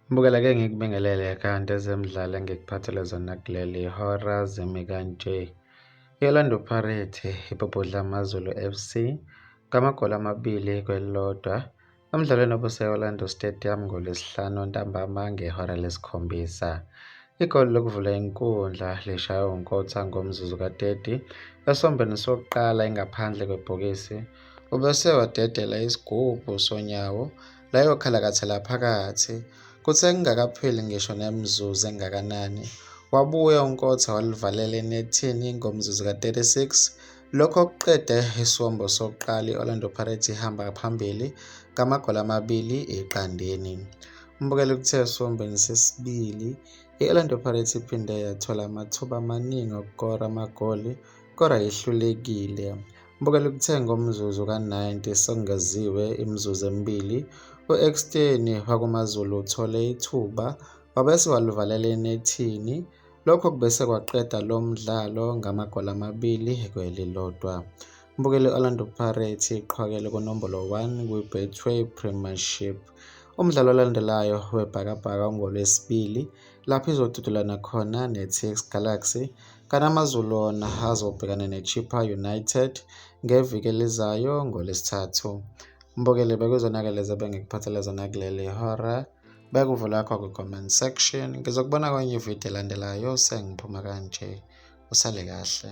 Mbukela ke ngikubingelele kanti ezemidlalo engikuphathele zona kuleli hora zimi kanje i-orlando pirate ibhubhudla amazulu fc ngamagoli amabili kwelilodwa Emdlalweni obuse-Orlando Stadium ngoLwesihlanu ntambama ngehora lesikhombisa, igoli lokuvula inkundla lishaywe uNkotha ngomzuzu ka-30 esombeni sokuqala ingaphandle kwebhokisi. Ubese wadedela isigubhu sonyawo layokhalakathela phakathi. Kuthe kungakapheli ngisho nemizuzu engakanani, wabuya uNkotha walivalela enethini ngomzuzu ka-36 Lokho kuqede isiwombo sokuqala i-Orlando Pirates ihamba phambili ngamagoli amabili eqandeni. Umbukeli kuthe esiwombeni sesibili i-Orlando Pirates iphinde yathola amathuba amaningi okukora amagoli kodwa yehlulekile. Umbukeli kuthe ngomzuzu ka-90 sekungeziwe imizuzu emibili u-Ekstein wakuMaZulu uthole ithuba wabese walivalela enethini Lokho kubese kwaqeda lo mdlalo ngamagoli amabili kwelilodwa. Umbukeli Orlando Pirates iqhwakele kunombolo 1 kwi-Betway Premiership. Umdlalo olandelayo weBhakabhaka ungolwesibili lapho izodudulana khona ne-TX Galaxy kanamazulu wona azobhekana ne-Chippa United ngeviki elizayo ngolesithathu. Mbokele bekuzonakele zebe ngikuphathele zona kuleli hora. beka uvo lakho kwi-comment section ngizokubona kwenye ividiyo elandelayo sengiphuma kanje usale kahle